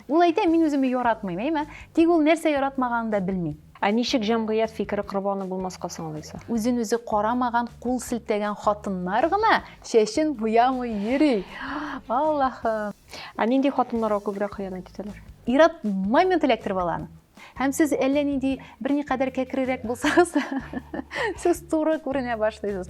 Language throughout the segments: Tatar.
Ул әйтә, мин үземне яратмыйм, әйме? Тик ул нәрсә яратмаганын да белми. Ә ничек җәмгыять фикере корбаны булмаска соң алайса? Үзен-үзе карамаган, кул селтәгән хатыннар гына чәчен буямый йөри. Аллаһым! Ә нинди хатыннарга күбрәк хыянәт итәләр? Ир-ат момент эләктереп ала аны. Һәм сез әллә нинди берникадәр кәкрерәк булсагыз да, сез туры күренә башлыйсыз.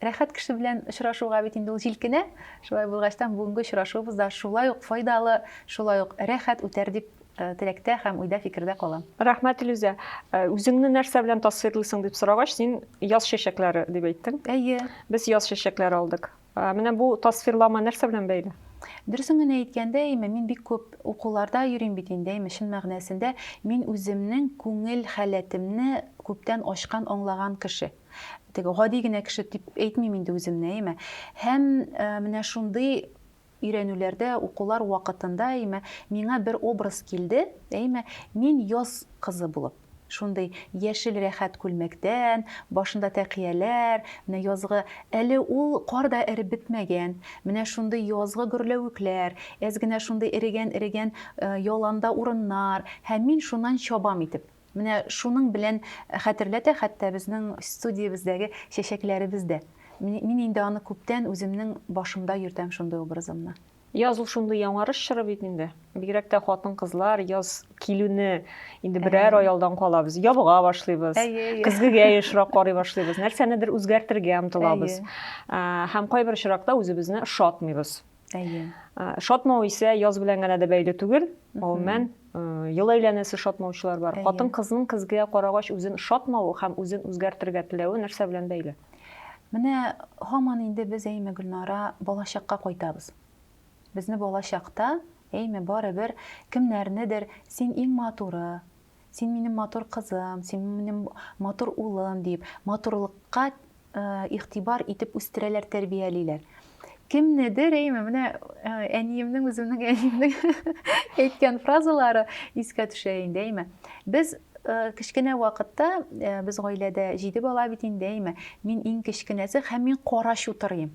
Рәхәт кеше белән очрашуга бит инде ул җилкенә. Шулай булгачтан бүгенге очрашуыбыз да шулай ук файдалы, шулай ук рәхәт үтәр дип теләктә һәм уйда фикердә калам. Рәхмәт, Илүзә. Үзеңне нәрсә белән тасвирлыйсың дип сорагач, син яз чәчәкләре дип әйттең. Әйе. Без яз чәчәкләре алдык. Менә бу тасвирлама нәрсә белән бәйле? Дөресен генә әйткәндә, әйме, мин бик күп укуларда йөрим бит инде, әйме, чын мәгънәсендә мин үземнең күңел халәтемне күптән ачкан, аңлаган кеше. теге гади генә кеше дип әйтмим инде үземне, әйме. Һәм э, менә шундый өйрәнүләрдә, укулар вакытында, әйме, миңа бер образ килде, әйме, мин яз кызы булып шундый яшел рәхәт күлмәктән, башында тәкияләр, менә язгы әле ул кар да эреп бетмәгән. Менә шундый язгы гөрләвекләр, әз генә шундый эрегән-эрегән э, яланда урыннар, һәм мин шуннан чабам итеп. Менә шуның белән хәтерләтә хәтта безнең студиябездәге чәчәкләребез дә. Мин инде аны күптән үземнең башымда йөртәм шундый образымны. Яз ул шундый яңарыш чоры бит инде. Бигрәк тә хатын-кызлар яз килүне инде берәр ай алдан калабыз. Ябыга башлыйбыз. Көзгегә ешрак карый башлыйбыз. Нәрсәнедер үзгәртергә омтылабыз. Һәм кайбер очракта үзебезне ошатмыйбыз. Әйе. Шатмау исә яз белән генә дә бәйле түгел. Гомумән, ел әйләнәсе шатмаучылар бар. Хатын кызның көзгә карагач үзен шатмавы һәм үзен үзгәртергә теләве нәрсә белән бәйле? Менә һаман инде без әйме Гөлнара балачакка кайтабыз. Безне балачакта әйме барыбер кемнәрнедер син иң матуры, Син минем матур кызым, син минем матур улым, диеп, матурлыкка игътибар итеп үстерәләр, тәрбиялиләр. Кемнедер, әйме, менә әниемнең, үземнең әниемнең әйткән фразалары искә төшә инде, әйме. Без кечкенә вакытта без гаиләдә җиде бала бит инде, әйме. Мин иң кечкенәсе һәм мин кара чутырыйм.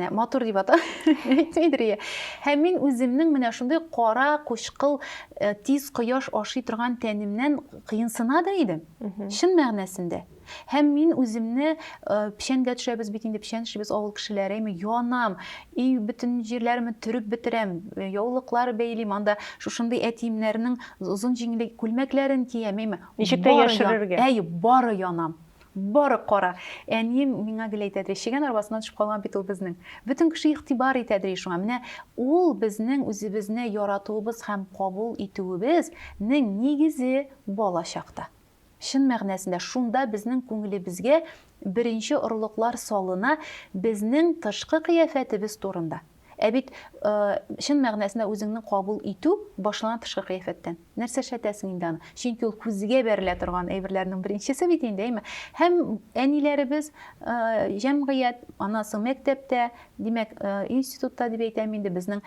Ә, матур дип ата әйтмидер иә һәм мин үземнең менә шундый кара кучкыл ә, тиз кояш ашый торган тәнемнән кыенсына да идем чын мәгънәсендә һәм мин үземне ә, печәнгә төшәбез бит инде печән эшлибез авыл кешеләре әйме янам и бөтен җирләремне төреп бетерәм э, яулыклар бәйлим анда шушындый әтиемнәрнең озын җиңле күлмәкләрен киям әйме ничек тә яшерергә әйе бары янам Бары кара! Әнием миңа гел әйтә дери, чегән арбасына төшеп калган бит ул безнең. Бөтен кеше игътибар итә дери шуңа. Менә ул безнең үзебезне яратуыбыз һәм кабул итүебез нең нигезе бала чакта. Чын мәгънәсендә шунда безнең күңелебезгә беренче орлыклар салына безнең тышкы кыяфәтебез турында. Ә бит чын мәгънәсендә үзеңне кабул итү башлана тышкы кыяфәттән. Нәрсә эшләтәсең инде аны? Чөнки ул күзгә бәрелә торган әйберләрнең беренчесе бит инде, әйме? Һәм әниләребез, җәмгыять, аннан соң мәктәптә, димәк, институтта дип әйтәм инде, безнең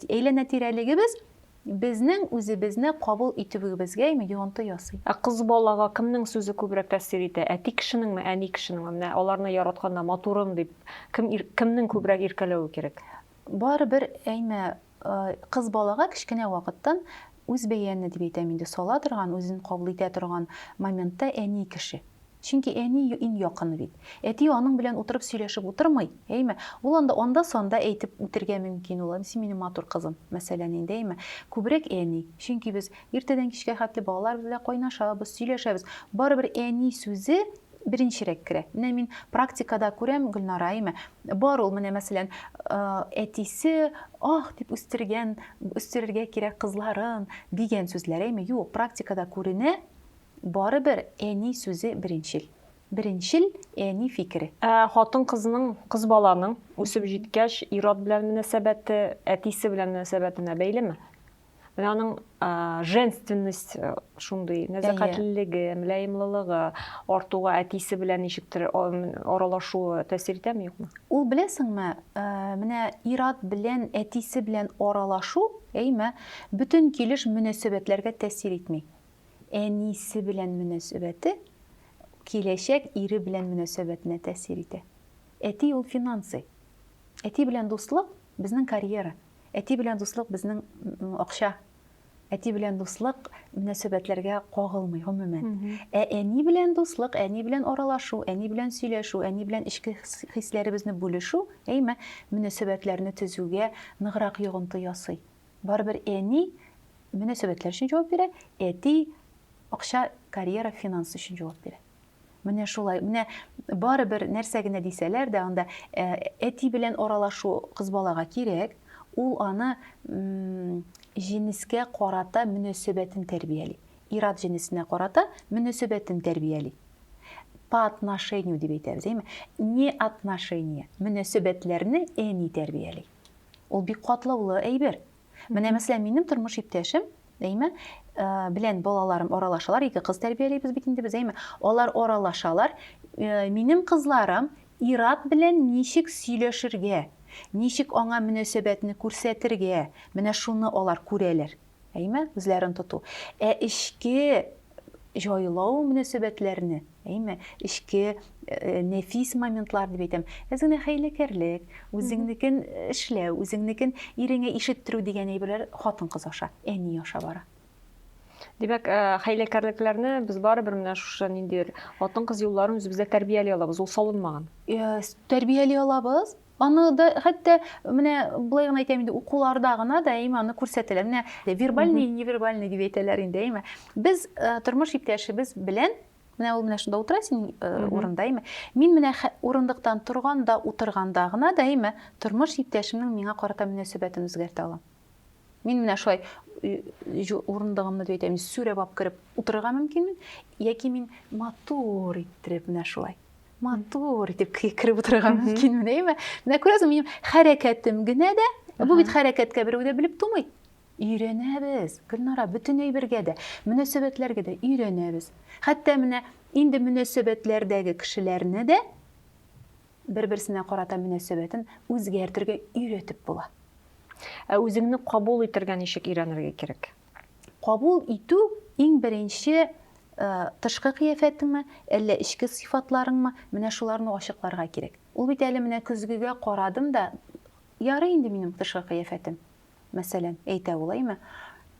әйләнә-тирәлегебез Безнең үзебезне кабул итүегебезгәме йогынты ясый? Ә кыз балага кемнең сүзе күбрәк тәэсир итә, әти кешенеңме, әни кешенеңме? Менә аларны яратканда, матурым дип, кем, кемнең күбрәк иркәләве кирәк? Барыбер әймә, кыз балага кечкенә вакыттан үзбәяне дип әйтәм инде, сала торган, үзен кабул итә торган моментта әни кеше. Чөнки әни иң якыны бит. Әти аның белән утырып сөйләшеп утырмый, әйме? Ул анда анда-санда әйтеп үтергә мөмкин ул, Әнисе минем матур кызым, мәсәлән инде, әйме? Күбрәк әни. Чөнки без иртәдән кичкә хәтле балалар берлә кайнашабыз, сөйләшәбез. Барыбер әни сүзе беренчерәк керә. Менә мин практикада күрәм, Гөлнара, әйме? Бар ул, менә мәсәлән, әтисе ах дип үстергән, үстерергә кирәк кызларын, дигән сүзләр, әйме? Юк, практикада күренә, Барыбер әни сүзе беренчел. Беренчел әни фикере. Ә хатын-кызның, кыз баланың үсеп җиткәч ир-ат белән мөнәсәбәте әтисе белән мөнәсәбәтенә бәйлеме? Менә аның женственность шундый, нәзакәтлелеге, мөлаемлылыгы артуга әтисе белән ничектер аралашуы тәэсир итәме, юкмы? Ул беләсеңме, менә ир-ат белән әтисе белән аралашу, әйме, бөтен килеш мөнәсәбәтләргә тәэсир итми. әнисе белән мөнәсәбәте киләчәк ире белән мөнәсәбәтенә тәэсир итә. Әти ул финансы. Әти белән дуслык безнең карьера. Әти белән дуслык безнең акча. Әти белән дуслык мөнәсәбәтләргә кагылмый гомумән. Ә әни белән дуслык, әни белән аралашу, әни белән сөйләшү, әни белән эчке хисләребезне бүлешү, әйме, мөнәсәбәтләрне төзүгә ныграк йогынты ясый. Барыбер әни мөнәсәбәтләр өчен җавап бирә, әти акча, карьера, финанс өчен җавап бирә. Менә шулай. Менә барыбер нәрсә генә дисәләр дә, анда ә, әти белән аралашу кыз балага кирәк. Ул аны м, җенескә карата мөнәсәбәтен тәрбияли. Ират җенесенә карата мөнәсәбәтен тәрбияли. По отношению дип әйтәбез, әйме? Не отношения, мөнәсәбәтләрне әни тәрбияли. Ул бик катлаулы әйбер. Менә мәсәлән, минем тормыш иптәшем, әйме, э, белән балаларым аралашалар, ике кыз тәрбиялибез бит инде без, әйме. Алар аралашалар. Э, минем кызларым Ират белән ничек сөйләшергә, ничек аңа мөнәсәбәтне күрсәтергә, менә шуны алар күрәләр. әйме, үзләрен тоту. Ә эчке җайлау мөнәсәбәтләрне, әйме, эчке э, нәфис моментлар дип әйтәм. Әз генә хәйләкәрлек, үзеңнекен эшләү, үзеңнекен иреңә ишеттерү дигән әйберләр хатын-кыз аша, әни аша бара. Димәк, э, хәйләкәрлекләрне без барыбер менә шушы ниндидер хатын-кыз юлларын үзебездә тәрбияли алабыз, ул салынмаган. Э, тәрбияли алабыз, Аны да хәтта менә болай гына әйтәм инде, укуларда гына да әйме аны күрсәтәләр. Менә вербальный и невербальный дип әйтәләр инде, әйме. Без э, тормыш иптәшебез белән менә ул менә шунда утыра син э, урында, әйме. Мин менә урындыктан торганда, утырганда гына да әйме, тормыш иптәшемнең миңа карата мөнәсәбәтен үзгәртә алам. Мин менә шулай урындыгымны дип әйтәм, сүрәп алып кереп утырырга мөмкинмен, яки мин матур иттереп менә шулай матур итеп кереп утырырга мөмкинмен, әйме? Менә күрәсең, минем хәрәкәтем генә дә, бу бит хәрәкәткә берәү дә белеп тумый. Өйрәнәбез, Гөлнара, бөтен әйбергә дә, мөнәсәбәтләргә дә өйрәнәбез. Хәтта менә инде мөнәсәбәтләрдәге кешеләрне дә Бер-берсенә карата мөнәсәбәтен үзгәртергә өйрәтеп була. Ә үзеңне кабул итергә ничек өйрәнергә кирәк? Кабул итү иң беренче тышкы кыяфәтеңме, әллә эчке сыйфатларыңмы, менә шуларны ачыкларга кирәк. Ул бит әле менә көзгегә карадым да, ярый инде минем тышкы кыяфәтем. мәсәлән, әйтә ул, әйме?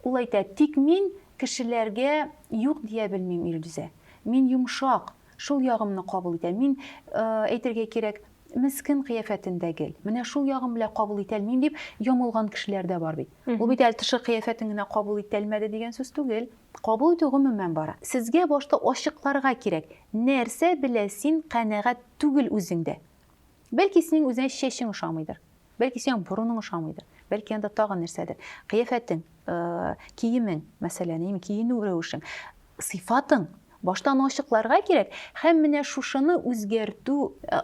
Ул әйтә, тик мин кешеләргә юк дия белмим, Илдүзә. Мин йомшак, шул ягымны кабул итәм. Мин, әйтергә кирәк, мескен кыяфәтендә гел. Менә шул ягым белән кабул итәлмим, дип ямылган кешеләр дә бар бит. Ул бит әле тышкы кыяфәтен генә кабул ителмәде дигән сүз түгел. Кабул итү гомумән бара. Сезгә башта ачыкларга кирәк, нәрсә белән син канәгать түгел үзеңдә. Бәлки синең үзеңә чәчең ошамыйдыр. Бәлки сиңа борының ошамыйдыр, бәлки анда тагын нәрсәдер. Кыяфәтең, киемең, мәсәлән, яме киенү рәвешең, сыйфатың башта аны ачыкларга кирәк һәм менә шушыны үзгәртү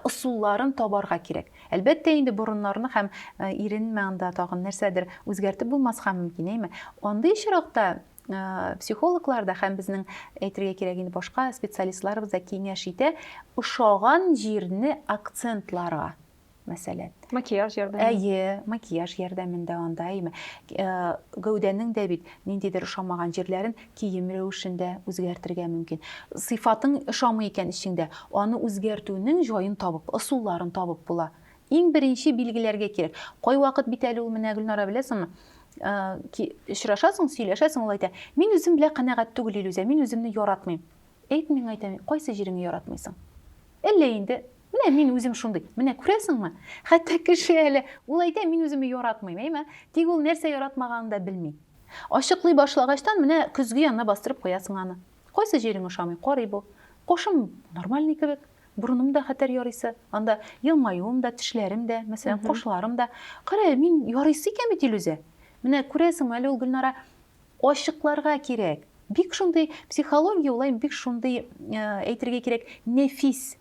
ысулларын табарга кирәк. Әлбәттә инде борыннарны һәм иренме анда тагын нәрсәдер үзгәртеп булмаска мөмкин, әйме? Андый очракта психологлар да һәм безнең әйтергә кирәк инде башка специалистларыбыз да киңәш итә, ошаган җирне акцентларга мәсәлән макияж ярдәмендә әйе макияж ярдәмендә анда әйме э, гәүдәнең дә бит ниндидер ошамаган җирләрен кием рәвешендә үзгәртергә мөмкин сыйфатың ошамый икән эчеңдә аны үзгәртүнең җаен табып ысулларын табып була иң беренче билгеләргә кирәк кайвакыт бит әле ул менә гөлнара беләсеңме э, очрашасың сөйләшәсең ул әйтә мин үзем белән канәгать түгел илүзә мин үземне яратмыйм әйт миңа әйтә кайсы җиреңне яратмыйсың әллә инде Менә мин үзем шундый. Менә күрәсеңме? Хәтта кеше әле, ул әйтә, мин үземне яратмыйм, әйме? Тик ул нәрсә яратмаганын да белми. Ачыклый башлагачтан, менә көзге янына бастырып куясың аны. Кайсы җирең ошамый, карый бу. Кашым нормальный кебек, борыным да хәтәр ярыйсы, анда елмаюым да, тешләрем дә, мәсәлән, кашларым да. Кара әле, мин ярыйсы икән бит, Илүзә! Менә күрәсеңме, әле ул, Гөлнара, ачыкларга кирәк. Бик шундый психология, ул, бик шундый, әйтергә кирәк, нәфис.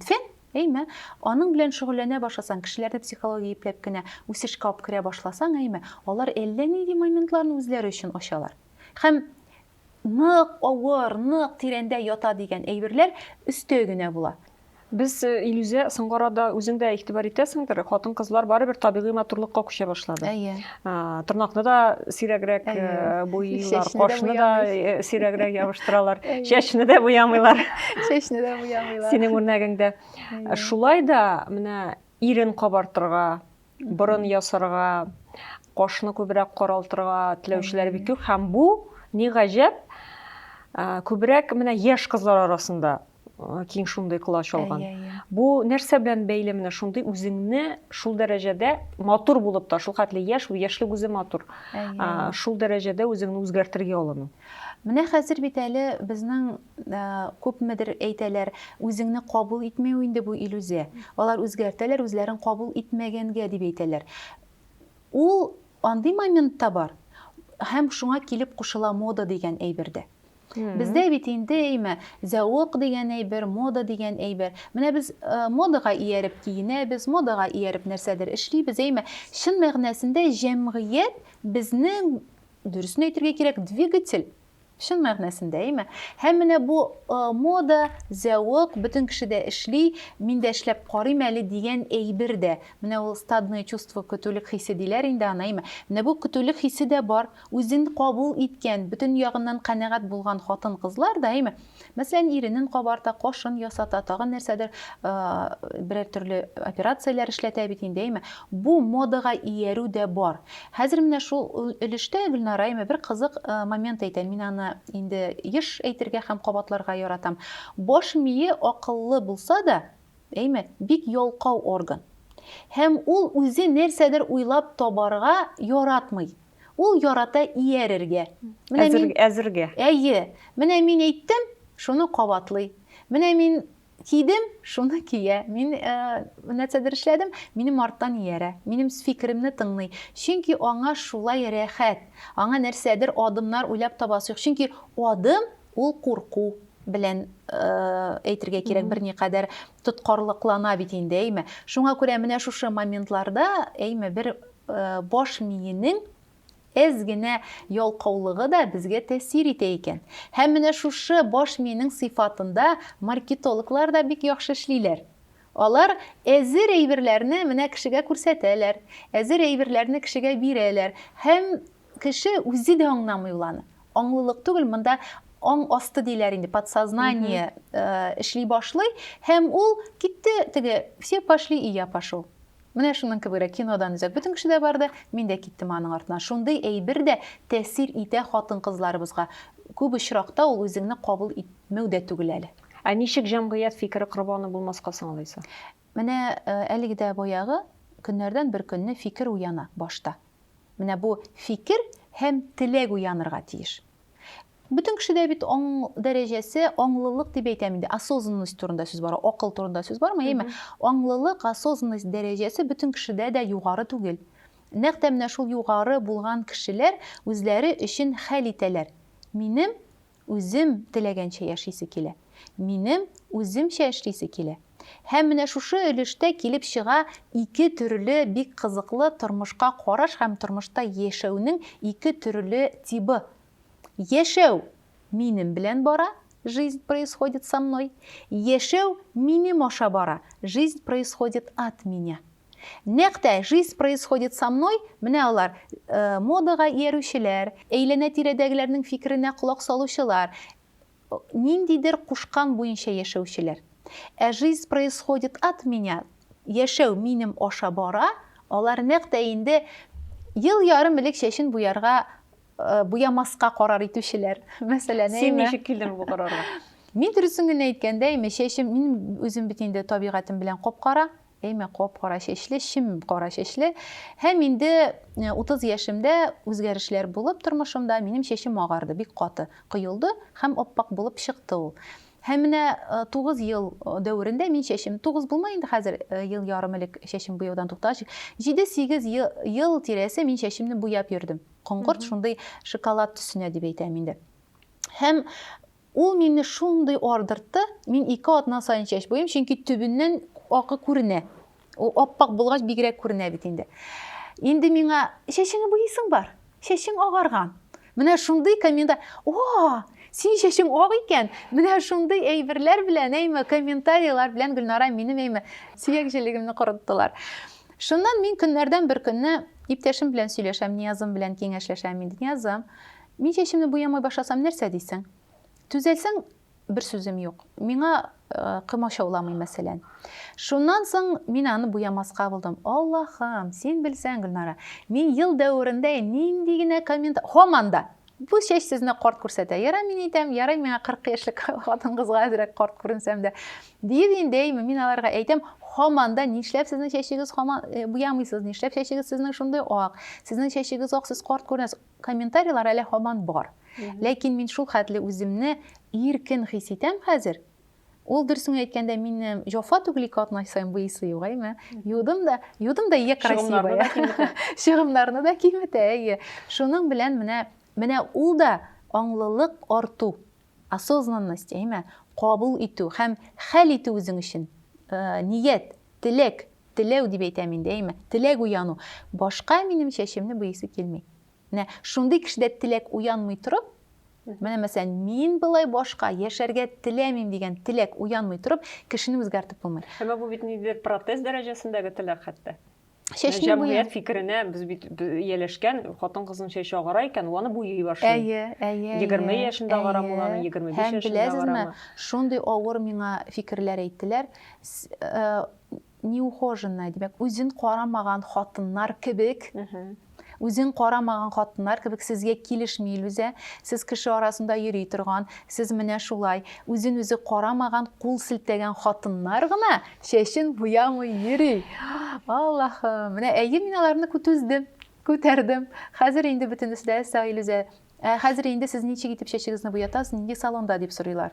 фен әйме аның белән шөгыльләнә башласаң кешеләрне психология ипләп кенә үсешкә алып керә башласаң әйме алар әллә нинди моментларны үзләре өчен ачалар һәм нык авыр нык тирәндә ята дигән әйберләр өстәй генә була без э, илүзә соңгы арада үзең дә игътибар итәсеңдер хатын кызлар барыбер табигый матурлыкка күчә башлады әйе тырнакны да сирәгрәк буйлар кашны да сирәгрәк ябыштыралар чәчне дә буямыйлар чәчне дә буямыйлар синең үрнәгеңдә шулай да менә ирен кабартырга борын ясарга кашны күбрәк каралтырга теләүчеләр бик күп һәм бу ни гаҗәп күбрәк менә яшь кызлар арасында киң шундый колач алган бу нәрсә белән бәйле менә шундый үзеңне шул дәрәҗәдә матур булып та шул хәтле яшь яшьлек үзе матур шул дәрәҗәдә үзеңне үзгәртергә алыну менә хәзер бит әле безнең күпмедер әйтәләр үзеңне кабул итмәү инде бу иллюзия алар үзгәртәләр үзләрен кабул итмәгәнгә дип әйтәләр ул андый моментта бар һәм шуңа килеп кушыла мода дигән әйбердә Бездә бит инде әйме, зәвык дигән әйбер, мода дигән әйбер. Менә без э, модага ияреп киенәбез, модага ияреп нәрсәдер эшлибез, әйме. Чын мәгънәсендә җәмгыять безнең дөресен әйтергә кирәк, двигатель чын мәгънәсендә әйме һәм менә бу э, мода зәвык бөтен кеше дә эшли мин дә эшләп карыйм әле дигән әйбер дә менә ул стадное чувство көтүлек хисе диләр инде аны әйме менә бу көтүлек хисе дә бар Үзен кабул иткән, бөтен ягыннан канәгать булган хатын-кызлар даими, мәсәлән, иренен кабарта, кашын ясата, тагын нәрсәдер, берәр төрле операцияләр эшләтә бит инде, әйме? Бу модага иярү дә бар. Хәзер менә шул өлештә Гөлнара әйме бер кызык момент әйтә, мин аны инде еш әйтергә һәм кабатларга яратам. Баш мие акыллы булса да, әйме, бик ялкау орган. Һәм ул үзе нәрсәдер уйлап табарга яратмый. Ул ярата иярергә. Менә әзер, мин... Әзергә. Әйе. Менә мин әйттем, шуны кабатлый. Менә мин кидем, шуны кия. Мин ә, э, нәрсәдер эшләдем, минем арттан иярә. Минем фикеремне тыңлый. Чөнки аңа шулай рәхәт. Аңа нәрсәдер адымнар уйлап табасы юк. Чөнки адым ул курку белән э, әйтергә кирәк берникадәр тоткарлыклана бит инде әйме шуңа күрә менә шушы моментларда әйме бер баш миенең әз генә ялкаулыгы да безгә тәэсир итә икән. Һәм менә шушы баш миенең сыйфатында маркетологлар да бик яхшы эшлиләр. Алар әзер әйберләрне менә кешегә күрсәтәләр, әзер әйберләрне кешегә бирәләр һәм кеше үзе дә аңламый ул аны. Аңлылык түгел, монда аң асты диләр инде, подсознание э, эшли башлый һәм ул китте теге все пошли и я пошел. Менә шуның кебегрәк кинодан үзәк бөтен кеше дә барды, мин дә киттем аның артыннан. Шундый әйбер дә тәэсир итә хатын-кызларыбызга. Күп очракта ул үзеңне кабул итмәү дә түгел әле. Ә ничек җәмгыять фикере корбаны булмаска соң алайса? Менә әлеге дә баягы, көннәрдән бер көнне фикер уяна башта. Менә бу фикер һәм теләк уянырга тиеш. Бөтен кешедә бит аң дәрәҗәсе, аңлылык дип әйтәм инде, осознанность турында сүз бара, акыл турында сүз бармы, яме? Аңлылык, осознанность дәрәҗәсе бөтен кешедә дә югары түгел. Нәкъ тә менә шул югары булган кешеләр үзләре өчен хәл итәләр, минем үзем теләгәнчә яшисе килә, минем үземчә эшлисе килә. Һәм менә шушы өлештә килеп чыга ике төрле бик кызыклы тормышка караш һәм тормышта яшәүнең ике төрле тибы, Яшәү минем белән бара, жизнь происходит со мной. Яшәү минем аша бара, жизнь происходит от меня. Нәкъ тә жизнь происходит со мной, менә алар, модага иярүчеләр, әйләнә-тирәдәгеләрнең фикеренә колак салучылар, Ниндидер кушкан буенча яшәүчеләр. Ә жизнь происходит от меня, яшәү минем аша бара, алар нәкъ тә инде ел ярым элек чәчен буярга, буямаска карар итүчеләр. Мәсәлән, әйме? Син ничек килдең бу карарга? Мин дөресен генә әйткәндә, әйме, чәчем, мин үзем бит инде табигатем белән кап-кара. Әйме, кап-кара чәчле, чем кара чәчле. Һәм инде 30 яшемдә үзгәрешләр булып тормышымда, минем чәчем агарды, бик каты коелды һәм ап-пак булып чыкты ул. Һәм менә 9 ел дәверендә мин чәчем, 9 булмай инде хәзер, ел ярым элек чәчем буяудан туктагач, 7-8 ел тирәсе мин чәчемне буяп йөрдем. Коңгырт шундый шоколад төсенә дип әйтәм инде. Һәм Ул мине шундый ардыртты, мин ике атна саен чәч буйыйм, чөнки төбеннән агы күренә. Ул ап-ак булгач бигрәк күренә бит инде. Инде миңа, чәчеңне буйыйсың бар, чәчең агарган. Менә шундый коммента... О, синең чәчең ак икән! Менә шундый әйберләр белән, әйме, комментарийлар белән Гөлнара минем, әйме, сөяк җелегемне корыттылар. Шуннан мин көннәрдән бер көнне иптәшем белән сөйләшәм, Ниязым белән киңәшләшәм инде. Ниязым, Мин чәчемне буямый башласам нәрсә дисең? Төзәлсәң, бер сүзем юк. Миңа кымачауламый, мәсәлән. Шуннан соң мин аны буямаска булдым. Аллахым, син белсәң, Гөлнара, мин ел дәверендә нинди генә коммент... Һаман да! Бу чәч сезне карт күрсәтә. Ярай мин әйтәм, ярай миңа 40 яшьлек хатын-кызга әзрәк карт күренсәм дә. Диеп инде әйме, мин аларга әйтәм, һаман да нишләп сезнең чәчегез һаман буямыйсыз, нишләп чәчегез сезнең шундый ак, сезнең чәчегез ак, сез карт күренәсез. Комментарийлар әле һаман бар. Ләкин мин шул хәтле үземне иркен хис итәм хәзер. Ул дөресен әйткәндә минем җофа түгел ике атна саен буисы югаймы? Юдым да, юдым да я красивая. Чыгымнарны да киметә, әйе. Шуның белән менә менә ул да аңлылык арту. Осознанность, әйме, кабул итү һәм хәл итү үзең өчен. Ният, теләк, теләү дип әйтәм инде, әйме, теләк уяну. Башка минем чәчемне буйыйсы килми. Менә шундый кешедә теләк уянмый торып, менә мәсәлән, мин былай башка яшәргә теләмим дигән теләк уянмый торып, кешене үзгәртеп булмый. Әмма бу бит ниндидер протез дәрәҗәсендәге теләк хәтта. чәчне буя. Җәмгыять фикеренә без бит ияләшкән, хатын-кызның чәче агара икән, аны буйый башлый. Әйе, әйе. 20 яшендә агарамы ул аны, 25 яшендә агарамы. Һәм беләсезме, шундый авыр миңа фикерләр әйттеләр. Э, неухоженная, димәк, үзен карамаган хатыннар кебек Үзен карамаган хатыннар кебек сезгә килешми Илүзә, сез кеше арасында йөри торган, сез менә шулай, үзен үзе карамаган, кул селтәгән хатыннар гына чәчен буямый йөри. Аллахым, менә әйе мин аларны күтүздем, күтәрдем. Хәзер инде бөтенесе дә сау Илүзә. Ә хәзер инде сез ничек итеп чәчегезне буятасыз, нинди салонда дип сорыйлар.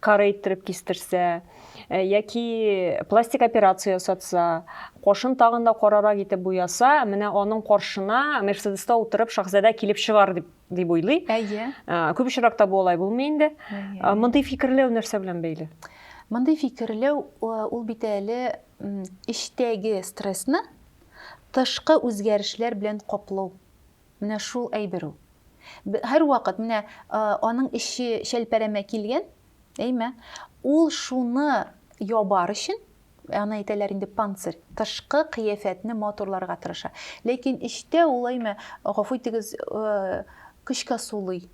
кары иттереп кистерсә э, яки пластик операция ясатса кошын тагын да карарак итеп буяса менә аның каршына мерседеста утырып шахзадә килеп чыгар дип дип уйлый әйе э, күп очракта бу алай булмый инде э, мондый фикерләү нәрсә белән бәйле мондый фикерләү ул бит әле эчтәге стрессны тышкы үзгәрешләр белән каплау Менә шул әйбер ул. Һәрвакыт менә аның эче чәлпәрәмә килгән, әйме? Ул шуны ябар өчен, аны әйтәләр инде панцирь, тышкы кыяфәтне матурларга тырыша. Ләкин эчтә ул әйме, гафу итегез, көчкә сулый.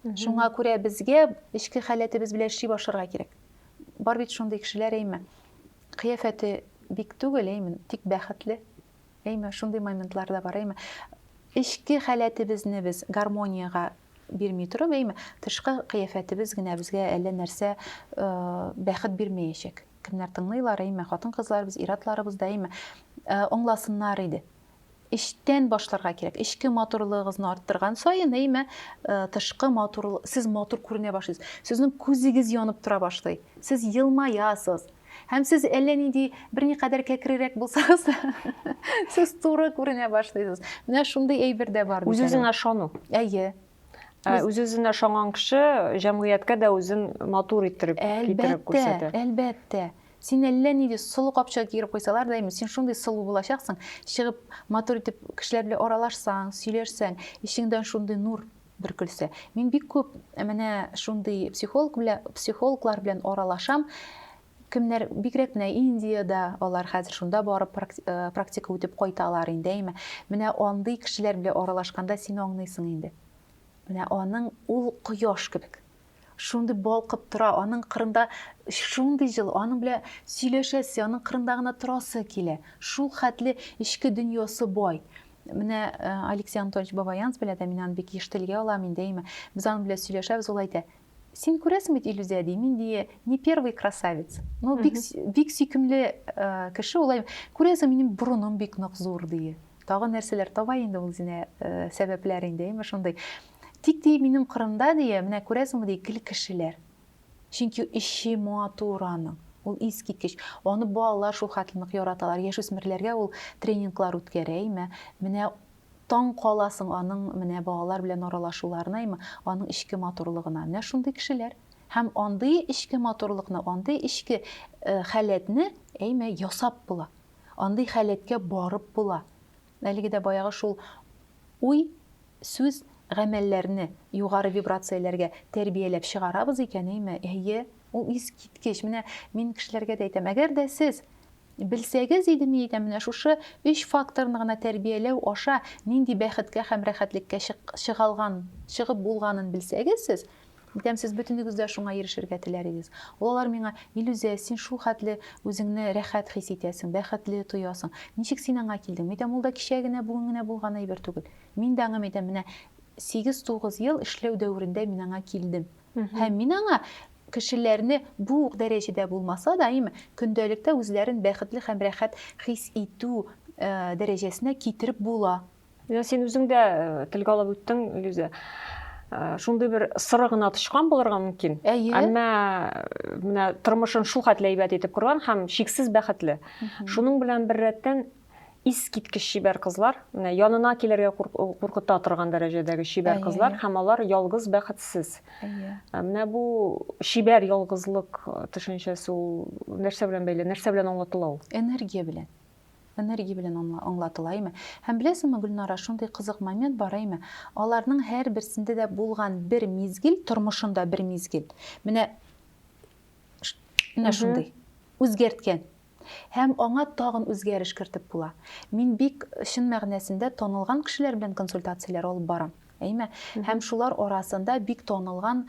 Шуңа күрә безгә эчке халәтебез белән эшли башларга кирәк. Бар бит шундый кешеләр әйме. Кыяфәте бик түгел әйме, тик бәхетле. Әйме, шундый моментлар да бар, әйме. Эчке халәтебезне без гармониягә бирми торып, әйме, тышкы кыяфәтебез генә безгә әллә нәрсә э, бәхет бирмәячәк. Кемнәр тыңлыйлар, әйме, хатын-кызларыбыз, ир-атларыбыз да, әйме, э, аңласыннар иде. Эчтән башларга кирәк. Эчке матурлыгыгызны арттырган саен, әйме, э, тышкы матур, сез матур күренә башлыйсыз. Сезнең күзегез янып тора башлый. Сез елмаясыз. Һәм сез әллә нинди берникадәр кәкрерәк булсагыз да, сез туры күренә башлыйсыз. Менә шундый әйбер дә бар. Үз-үзеңә ышану. Әйе. Ә, үз-үзенә ышанган кеше җәмгыятькә дә үзен матур иттереп китереп күрсәтә. Әлбәттә, әлбәттә. Син әллә нинди сылу капчыгы киереп куйсалар да, син шундый сылу булачаксың, чыгып матур итеп кешеләр белән аралашсаң, сөйләшсәң, ишеңдән шундый нур бер көлсә. Мин бик күп менә шундый психолог белән, психологлар белән аралашам. Кемнәр бигрәк менә Индиядә, алар хәзер шунда барып э, практика үтеп кайталар инде, әйме. Менә андый кешеләр белән аралашканда син аңлыйсың инде. Менә аның ул кояш кебек. Шундый балкып тора, аның кырында шундый җылы, аның белән сөйләшәсе, аның кырында гына торасы килә. Шул хәтле эчке дөньясы бай. Менә э, Алексей Анатольевич Бабаянц белән дә мин аны бик еш телгә алам, мин дәйма. Без аның белән сөйләшәбез, ул әйтә, син күрәсең бит иллюзия ди мин ди не первый красавец ну бик бик сөйкемле э, кеше ул күрәсең минем борыным бик нык зур ди тагы нәрсәләр таба инде ул үзенә э, сәбәпләр инде әйме шундый Тик, ди, минем кырымда, ди, менә күрәсеңме, ди, икеле кешеләр. Чөнки эче матур аның. Ул искиткеч. Аны балалар шул хәтле нык яраталар. Яшүсмерләргә ул тренинглар үткәрә, имә. Менә таң каласың аның менә балалар белән аралашуларына, имә, аның эчке матурлыгына. Менә шундый кешеләр. Һәм андый эчке матурлыкны, андый эчке халәтне, әйме, ясап була. Андый халәткә барып була. Әлеге дә баягы шул уй, сүз, гамәлләрне югары вибрацияләргә тәрбияләп чыгарабыз икәнеме? Әйе, ул искиткеч. Менә мин кешеләргә дә әйтәм, әгәр дә сез белсәгез иде, мин әйтәм, менә шушы өч факторны гына тәрбияләү аша нинди бәхеткә һәм рәхәтлеккә чыгалган, чыгып булганын белсәгез сез, Итәм, сез бөтенегез дә шуңа ирешергә теләр идегез. Ул алар миңа, Илүзә, син шул хәтле үзеңне рәхәт хис итәсең, бәхетле тоясың. Ничек син аңа килдең? Митәм, ул да кичә генә, бүген генә булган әйбер түгел. Мин дә аңа, митәм, менә сигез-тугыз ел эшләү дәверендә мин аңа килдем. Һәм мин аңа кешеләрне бу ук дәрәҗәдә булмаса да, әйеме, көндәлектә үзләрен бәхетле һәм рәхәт хис итү дәрәҗәсенә китереп була, Менә син үзең дә э, телгә алып үттең, Илюзә. Э, шундый бер сыры гына тычкан булырга мөмкин. Әйе. Әмма э, менә тормышын шул хәтле әйбәт итеп корган һәм шиксез бәхетле. Шуның белән бер рәттән искиткеч чибәр кызлар, менә янына килергә куркыта торган дәрәҗәдәге чибәр кызлар һәм алар ялгыз бәхетсез. Әйе. Э, менә бу чибәр ялгызлык төшенчәсе ул нәрсә белән бәйле? Нәрсә белән аңлатыла ул? Энергия белән. Энергия белән аңла, аңлатыла име? Һәм беләсеңме, Гөлнара, шундый кызык момент бар әйме, аларның һәр берсендә дә булган бер мизгел, тормышында бер мизгел, менә менә шундый, үзгәрткән. Һәм аңа тагын үзгәреш кертеп була. Мин бик чын мәгънәсендә танылган кешеләр белән консультацияләр алып барам. Әйме? Һәм шулар арасында бик танылган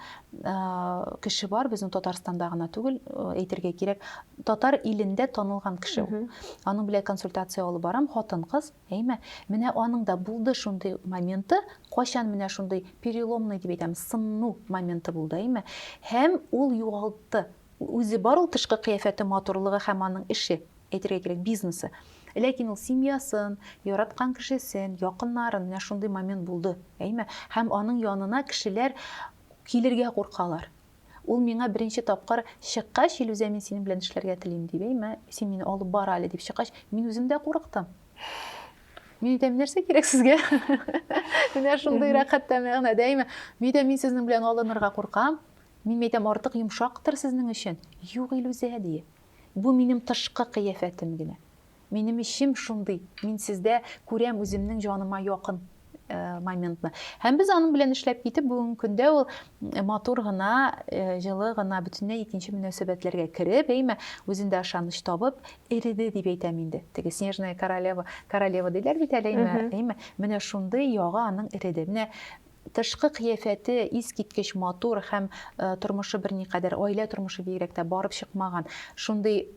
кеше бар, безнең Татарстанда гына түгел, әйтергә кирәк, татар илендә танылган кеше ул. Аның белән консультация алып барам, хатын-кыз, әйме? Менә аның да булды шундый моменты, кайчан менә шундый переломный дип әйтәм, сынну моменты булды, әйме? Һәм ул югалтты Үзе бар ул тышкы кыяфәте, матурлыгы һәм аның эше, әйтергә кирәк, бизнесы. Ләкин ул семьясын, яраткан кешесен, якыннарын, менә шундый момент булды, әйме? Һәм аның янына кешеләр килергә куркалар. Ул миңа беренче тапкыр чыккач, Илүзә, мин синең белән эшләргә телим, дип, әйме? Син мине алып бар әле, дип чыккач, мин үзем дә курыктым. Мин әйтәм, нәрсә кирәк сезгә? Менә шундыйрак хәтта мәгънәдә, әйме? Мин әйтәм, мин сезнең белән алынырга куркам, Мин әйтәм, артык йомшактыр сезнең өчен. Юк, Илүзә, дие. Бу минем тышкы кыяфәтем генә. Минем эчем шундый, мин сездә күрәм үземнең җаныма якын моментны. Һәм без аның белән эшләп китеп, бүгенге көндә ул матур гына, җылы гына, бөтенләй икенче мөнәсәбәтләргә кереп, әйме, үзендә ышаныч табып, эреде дип әйтәм инде. Теге снежная королева, королева диләр бит әле, әйме, әйме, менә шундый ягы аның эреде. Менә Тышкы кыяфәте искиткеч матур һәм тормышы берникадәр, гаилә тормышы бигрәк тә барып чыкмаган, шундый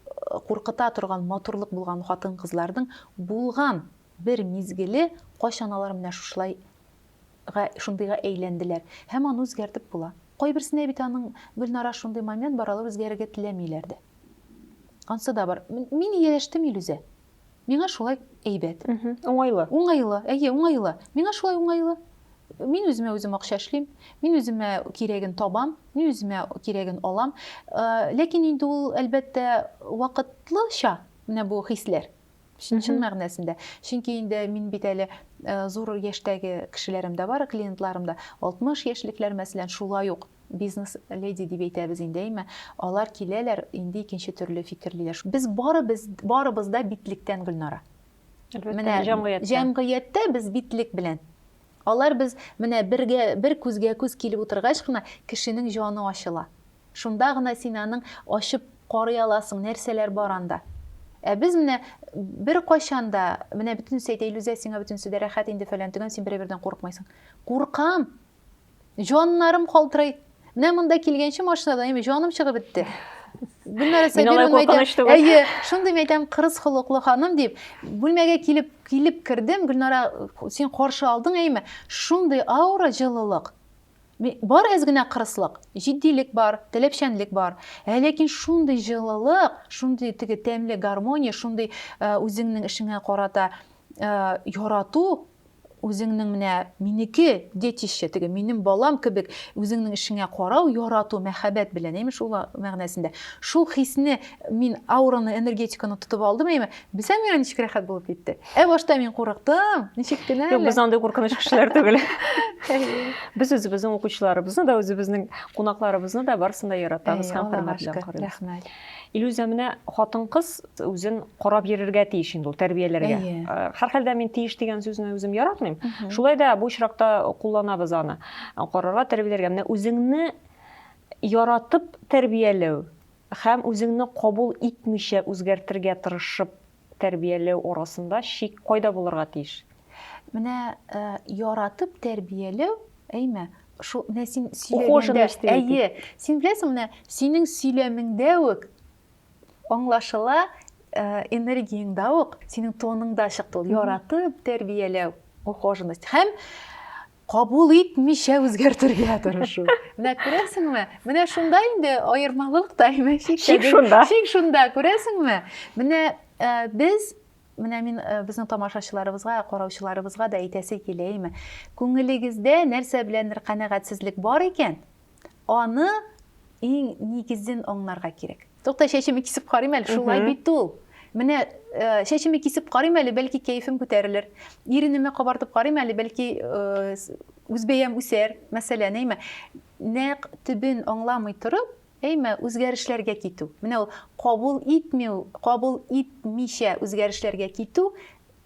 куркыта торган матурлык булган хатын-кызларның булган бер мизгеле, кайчан алар менә шушылай га, шундыйга әйләнделәр. Һәм аны үзгәртеп була. Кайберсенә бит аның, Гөлнара, шундый момент бар, алар үзгәрергә теләмиләр дә. Ансы да бар. Мин ияләштем, Илүзә. Миңа шулай әйбәт. Уңайлы. Уңайлы, әйе, уңайлы. Миңа шулай уңайлы. Мин үземә үзем акча эшлим, мин үземә кирәген табам, мин үземә кирәген алам. Э, ләкин инде ул, әлбәттә, вакытлыча менә бу хисләр. Чын, чын мәгънәсендә. Чөнки инде мин бит әле э, зур яшьтәге кешеләрем дә бар, клиентларым да. 60 яшьлекләр, мәсәлән, шулай ук бизнес леди дип әйтәбез инде, әйме, алар киләләр, инде икенче төрле фикерлиләр. Без барыбыз, барыбыз да битлектән, Гөлнара. Менә җәмгыятьтә. Җәмгыятьтә без битлек белән. Алар без менә бергә, бер күзгә күз килеп утыргач кына кешенең җаны ачыла. Шунда гына син аның ачып карый аласың, нәрсәләр бар анда. Ә без менә бер кайчан да, менә бөтенесе әйтә, Илүзә, сиңа бөтенесе дә рәхәт инде, фәлән, төгән, син берәбердән курыкмыйсың. Куркам! Җаннарым калтырый. Менә монда килгәнче машинадан әйме җаным чыгып бетте. Гөлнара Сабировна әйтәм, әйе, шундый мәйтәм кырыс холыклы ханым дип, бүлмәгә килеп килеп кердем, Гөлнара, син каршы алдың әйме? Шундый аура, җылылык. Бар әз генә кырыслык, җитдилек бар, теләпчәнлек бар. Ә ләкин шундый җылылык, шундый теге тәмле гармония, шундый э, үзеңнең эшеңә карата э, ярату, Үзеңнең менә минеке, детище, теге минем балам кебек үзеңнең эшеңә карау, ярату, мәхәббәт белән, әйме шул мәгънәсендә. Шул хисне мин аураны, энергетиканы тотып алдым, әйме? Белсәң, миңа ничек рәхәт булып китте. Ә башта мин курыктым, ничек кенә әле. Юк, без андый куркыныч кешеләр түгел. Без үзебезнең укучыларыбызны да, үзебезнең кунакларыбызны да барысын да яратабыз һәм хөрмәт белән карыйбыз. Рәхмәт. Илүзә, менә хатын-кыз үзен карап йөрергә тиеш инде ул, тәрбияләргә. Әйе. Һәрхәлдә мин тиеш дигән сүзне үзем яратмыйм. Шулай да бу очракта кулланабыз аны. Карарга, тәрбияләргә. Менә үзеңне яратып тәрбияләү һәм үзеңне кабул итмичә үзгәртергә тырышып Тәрбияләү арасында чик кайда булырга тиеш? Менә яратып тәрбияләү, әйме? Шул менә син сөйләгәндә, әйе, син беләсең, менә синең сөйләмеңдә үк аңлашыла, энергияңдә үк, синең тоныңда чыкты ул яратып тәрбияләү, ухоженность. Һәм кабул итмичә үзгәртергә тырышу. Менә күрәсеңме? Менә шунда инде аермалык та Шик шунда. Шик шунда, күрәсеңме? Менә э, без менә мин э, безнең тамашачыларыбызга, караучыларыбызга да әйтәсе килә, әйме? Күңелегездә нәрсә беләндер канәгатьсезлек бар икән, Аны иң нигезен аңларга кирәк. Тукта, чәчемне кисеп карыйм әле, шулай бит ул. Менә э, чәчемне кисеп карыйм әле, бәлки кәефем күтәрелер. Иренемне кабартып карыйм әле, бәлки э, үзбәям үсәр, мәсәлән, әйме. Нәкъ төбен аңламый торып, әйме, үзгәрешләргә китү. Менә ул кабул итмәү, кабул итмичә үзгәрешләргә китү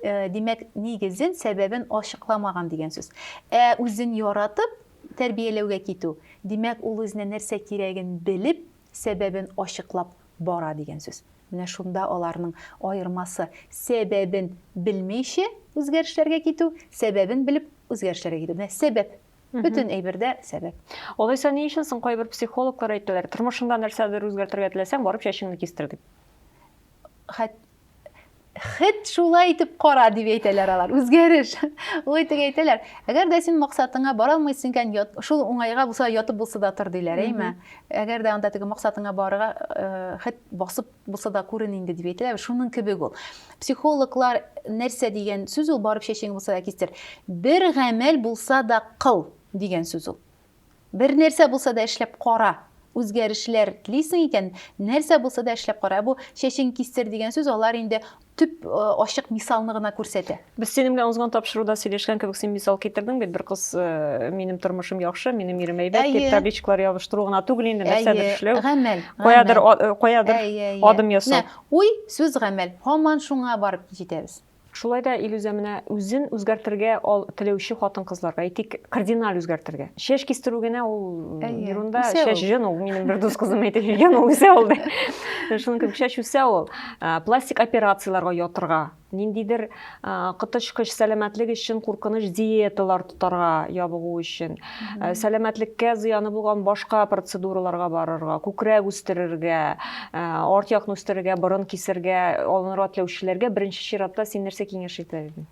Димәк, нигезен, сәбәбен ачыкламаган дигән сүз. Ә үзен яратып, тәрбияләүгә китү, димәк, ул үзенә нәрсә кирәген белеп, сәбәбен ачыклап бара дигән сүз. Менә шунда аларның аермасы, сәбәбен белмичә үзгәрешләргә китү, сәбәбен белеп үзгәрешләргә китү. Менә сәбәп. Бөтен әйбердә сәбәп. Алайса ни өчен соң кайбер психологлар әйтәләр, тормышыңда нәрсәдер үзгәртергә теләсәң, барып чәчеңне кистер дип? хет шулай итеп кара дип әйтәләр алар үзгәреш ул итеп әйтәләр әгәр дә син максатыңа бара алмыйсың икән шул уңайга булса ятып булса да тор диләр әйме әгәр дә анда теге максатыңа барырга э, хет басып булса да күрен инде дип әйтәләр шуның кебек ул психологлар нәрсә дигән сүз ул барып чәчең булса да кистер бер гамәл булса да кыл дигән сүз ул Бер нәрсә булса да эшләп кара! Үзгәрешләр телисең икән, нәрсә булса да эшләп кара! Ә бу чәчең кистер дигән сүз алар инде төп ачык мисалны гына күрсәтә. Без синең белән узган тапшыруда сөйләшкән кебек, син мисал китердең бит, бер кыз минем тормышым яхшы, минем ирем әйбәт дип, табличкалар ябыштыру гына түгел инде, нәрсәдер эшләү, каядыр адым ясау. Уй, сүз, гамәл, һаман шуңа барып җитәбез. Шулай да, Илүзә, менә үзен үзгәртергә ал теләүче хатын-кызларга, әйтик, кардиналь үзгәртергә. Чәч кистерү генә ул ерунда, чәч җен ул, минем бер дус кызым әйтеп йөргән, ул үсә ул ди. Шуның кебек чәч үсә ул. Пластик операцияләргә ятырга, ниндидер коточкыч сәламәтлек өчен куркыныч диеталар тотарга, ябыгу өчен. Э, сәламәтлеккә зыяны булган башка процедураларга барырга күкрәк үстерергә э, арт якны үстерергә борын кисергә алынырга теләүчеләргә беренче чиратта син нәрсә киңәш итәр идең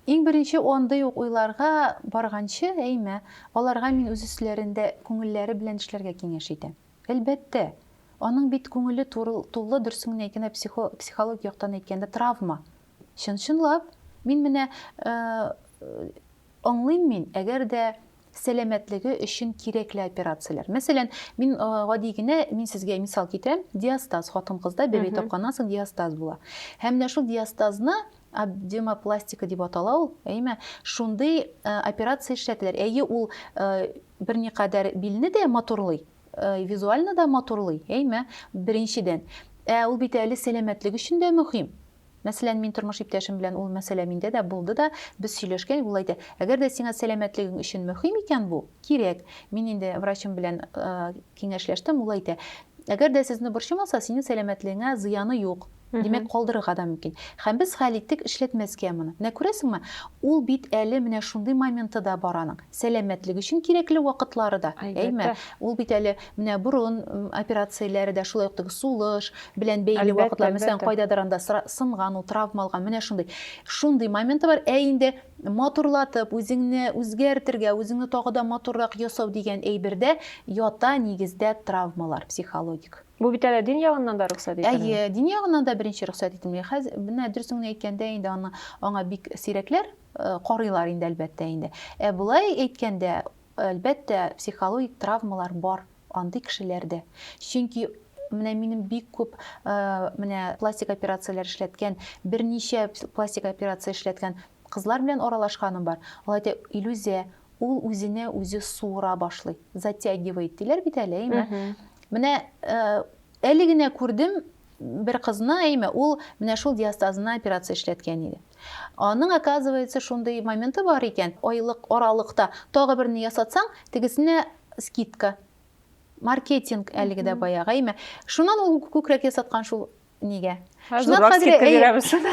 иң беренче андый ук уйларга барганчы әйме аларга мин үз өсләрендә күңелләре белән эшләргә киңәш итәм әлбәттә аның бит күңеле тулы дөресен генә әйткәндә психологик яктан әйткәндә травма чын чынлап мин менә э, Аңлыйм мин, әгәр дә сәламәтлеге өчен кирәкле операцияләр. Мәсәлән, мин гади генә, мин сезгә мисал китерәм, диастаз, хатын-кызда бәби тапканнан соң диастаз була. Һәм менә шул диастазны абдемопластика дип атала ул, әйме? Шундый операция эшләтәләр. Әйе, ул берникадәр билне дә матурлый, визуально да матурлый, әйме? Беренчедән. Ә ул бит әле сәламәтлек өчен дә мөһим. Мәсәлән, мин тормыш иптәшем белән ул мәсьәлә миндә дә булды да, без сөйләшкән, ул әйтә, әгәр дә сиңа сәламәтлегең өчен мөһим икән бу, кирәк. Мин инде врачым белән киңәшләштем, ул әйтә, әгәр дә сезне борчымаса, синең сәламәтлегеңә зыяны юк. Димәк, калдырырга да мөмкин. Һәм без хәл иттек эшләтмәскә моны. Менә күрәсеңме, ул бит әле менә шундый моменты да бар аның. Сәламәтлек өчен кирәкле вакытлары да, әйме? Ул бит әле менә борын операцияләре дә, шулай ук теге сулыш белән бәйле вакытлар, мәсәлән, кайдадыр анда сынган ул, травма алган, менә шундый. Шундый моменты бар. Ә инде матурлатып, үзеңне үзгәртергә, үзеңне тагы да матуррак ясау дигән әйбердә ята нигездә травмалар психологик. Бу бит әле дин ягыннан да рөхсәт ителми. Әйе, дин ягыннан да беренче рөхсәт ителми. Менә дөресен генә әйткәндә, инде аны аңа бик сирәкләр. карыйлар инде, әлбәттә инде. Ә болай әйткәндә, әлбәттә, психологик травмалар бар андый кешеләрдә. Чөнки менә минем бик күп менә пластик операцияләр эшләткән, берничә пластик операция эшләткән кызлар белән аралашканым бар. Алар әйтә, Илүзә, ул үзенә үзе суыра башлый, затягивает диләр бит әле, әйме? Менә әле генә күрдем, Бер кызны, әйме, ул менә шул диастазына операция эшләткән иде. Аның, оказывается, шундый моменты бар икән, айлык аралыкта тагы берне ясатсаң, тегесенә скидка. Маркетинг әлеге дә баягы, әйме. Шуннан ул күкрәк ясаткан шул нигә. Шуннан хәзер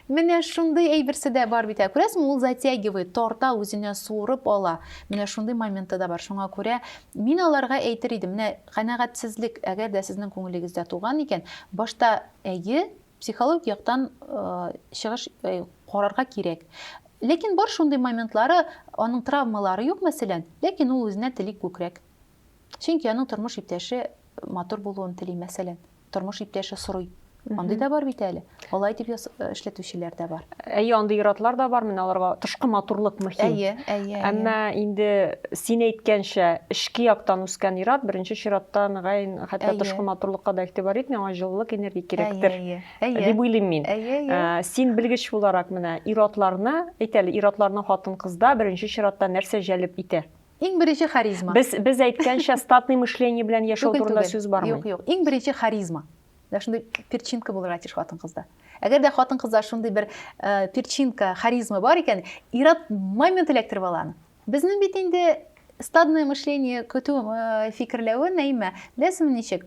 менә шундый әйберсе дә бар бит. Күрәсең, ул затягивает, тарта, үзенә суырып ала. Менә шундый моменты да бар. Шуңа күрә мин аларга әйтер идем, менә Канәгатьсезлек, әгәр дә сезнең күңелегездә туган икән, башта әйе, психологик яктан чыгыш карарга кирәк. Ләкин бар шундый моментлары, аның травмалары юк, мәсәлән, ләкин ул үзенә тели күкрәк. Чөнки аның тормыш иптәше матур булуын тели, мәсәлән. тормыш иптәше сорый. Андый да бар бит әле. Алай дип эшләтүчеләр дә бар. Әйе, андый иратлар да бар. Менә аларга тышкы матурлык мөһим. Әйе, әйе. Әмма инде син әйткәнчә, эшке яктан үскән ират беренче чиратта мөгаен хәтта тышкы матурлыкка да игътибар итми, аңа җылылык, энергия кирәктер. Дип уйлыйм мин. Син белгеч буларак менә иратларны, әйтәле, иратларны хатын-кызда беренче чиратта нәрсә җәлеп итә? Иң беренче харизма. Без без әйткәнчә статный мышление белән яшәү турында сүз бармый. Юк, юк. Иң беренче харизма. Менә шундый перчинка булырга тиеш хатын-кызда. Әгәр дә хатын-кызда шундый бер э, перчинка, харизма бар икән, ират момент эләктереп ала аны. Безнең бит инде стадное мышление көтү э, фикерләве Нәимә, беләсеңме ничек?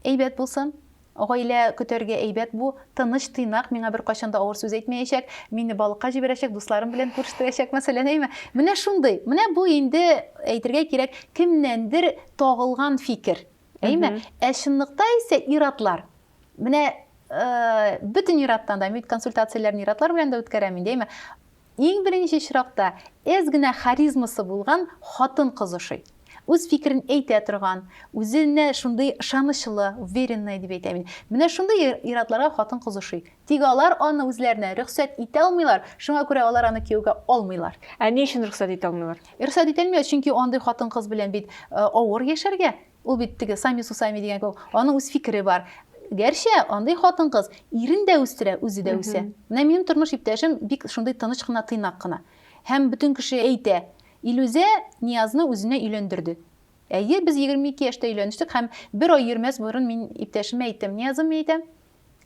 Әйбәт булсын, Гаилә көтәргә әйбәт бу, тыныч, тыйнак, миңа беркайчан да авыр сүз әйтмәячәк, мине балыкка җибәрәчәк, дусларым белән күрештерәчәк, мәсәлән, әйеме? Менә шундый, менә бу инде, әйтергә кирәк, кемнәндер тагылган фикер, әйеме? Ә чынлыкта исә ир-атлар, менә бөтен ир-аттан да, мин бит консультацияләрне ир-атлар белән дә үткәрәм инде, әйеме? Иң беренче чиракта, әз генә харизмасы булган хатын-кыз ошый. Үз фикерен әйтә торган, үзенә шундый ышанычлы, уверенная дип әйтәм мин. Менә шундый ир-атларга хатын-кыз ошый. Тик алар аны үзләренә рөхсәт итә алмыйлар, шуңа күрә алар аны кияүгә алмыйлар. Ә ни өчен рөхсәт итә алмыйлар? Рөхсәт ителми, чөнки андый хатын-кыз белән бит авыр яшәргә. Ул бит теге Сами Сусами дигән кебек, аның үз фикере бар. Гәрчә андый хатын-кыз ирен дә үстерә, үзе дә үсә. Менә минем тормыш иптәшем бик шундый тыныч кына, тыйнак кына. Һәм бөтен кеше әйтә, Илүзә Ниязны үзенә өйләндерде. Әйе, без 22 яшьтә өйләнештек һәм бер ай йөрмәс борын мин иптәшемә әйттем, Ниязым, мин әйтәм,